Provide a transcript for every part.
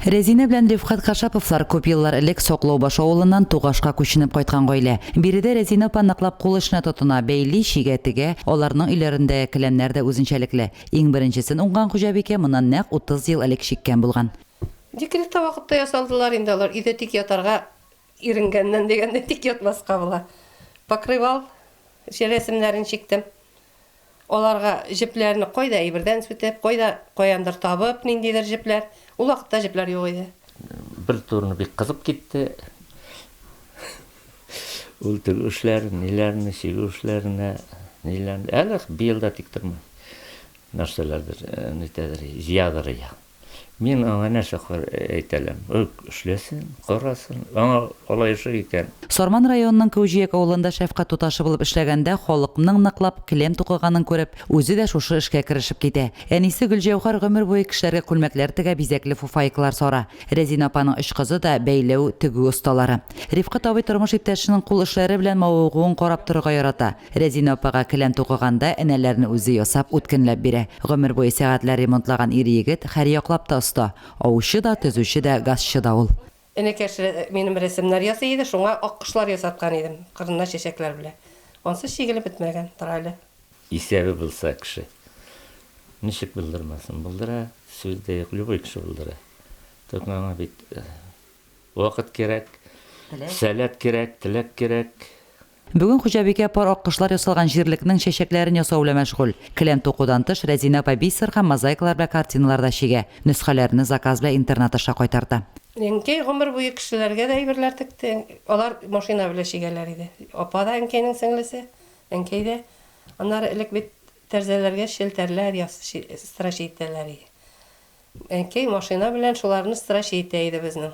Рәзинә белән Рифкать Кашаповлар күп еллар элек Соклаубаш авылыннан Тугашка күченеп кайткан гаилә. Биредә Рәзинә апа ныклап кул эшенә тотына, бәйли, чигә, тегә, аларның өйләрендә келәмнәр дә үзенчәлекле. Иң беренчесен уңган хуҗабикә моннан нәкъ утыз ел элек чиккән булган. Декретта вакытта ясалдылар инде алар, өйдә тик ятарга иренгәннән дигәндәй, тик ятмаска була. Покрывал, җә рәсемнәрен чиктем. Аларга җепләрне кайда әйбердән сүтеп, кайда каяндыр табып, ниндидер җепләр. Ул вакытта җепләр юк иде. Бер турыны бик кызып китте. Ул тегү эшләр, ниләрне, чигү эшләренә, ниләрне. Әле быел да тик тормый. Нәрсәләрдер, нитәдер, җыядыр ия. Мин аңа нәрсә кар әйтәләм? Үк эшләсен, карасын, аңа алай ошый икән. Сарман районының Кәүҗияк авылында шәфкать туташы булып эшләгәндә халыкның ныклап келәм тукыганын күреп, үзе дә шушы эшкә керешеп китә. Әнисе Гөлҗәүһәр гомер буе кешеләргә күлмәкләр тегә, бизәкле фуфайкалар сара. Рәзинә апаның өч кызы да, бәйләү, тегү осталары. Рифкать абый тормыш иптәшенең кул эшләре белән мавыгуын карап торырга ярата. Рәзинә апага келәм тукыганда энәләрне үзе ясап, үткенләп бирә. Гомер буе сәгатьләр ремонтлаган ир-егет һәрьяклап та оста. Аучы да, төзүче дә, газчы да ул. Энекәш минем рәсемнәр ясый иде, шуңа аккошлар ясаткан идем, кырыннан чәчәкләр белән. Ансыз чигелеп бетмәгән, тора әле. Исәбе булса кеше, ничек булдырмасын? Булдыра, сүз дә юк, любой кеше булдыра. Тик моңа бит вакыт кирәк, сәләт кирәк, теләк кирәк. Бүген хуҗабикә пар аккошлар ясалган җирлекнең чәчәкләрен ясау белән мәшгуль. Келәм тукудан тыш, Рәзинә апа бисер һәм мозаикалар белән картиналар да чигә, нөсхәләрне заказ белән интернат аша кайтарта. Әнкәй гомер буе кешеләргә дә әйберләр текте. Алар машина белән чигәләр иде. Апа да әнкәйнең сеңлесе, әнкәй дә. Аннары элек бит тәрзәләргә челтәрләр яс, строчи итәләр иде. Әнкәй машина белән шуларны строчи итә иде безнең.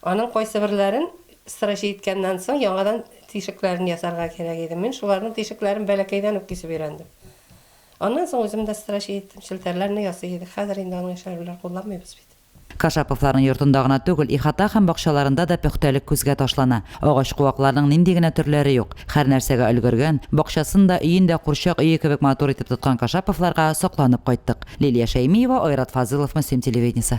Аның кайсыберләрен сыра җиткәннән соң яңадан тишекләрен ясарга кирәк иде. Мин шуларның тишекләрен бәләкәйдән үк кисеп өйрәндем. Аннан соң үзем дә сыра җиттем, челтәрләрне ясый идек. Хәзер инде аның эчәрләр кулланмыйбыз бит. Кашаповларның йортында гына түгел, ихата һәм бакчаларында да пөхтәлек күзгә ташлана. Агач-куакларның нинди генә төрләре юк! Һәрнәрсәгә өлгергән, бакчасын да, өен дә курчак өе кебек матур итеп тоткан Кашаповларга сокланып кайттык. Лилия Шәймиева, Айрат Фазылов, Мөслим телевидениесе.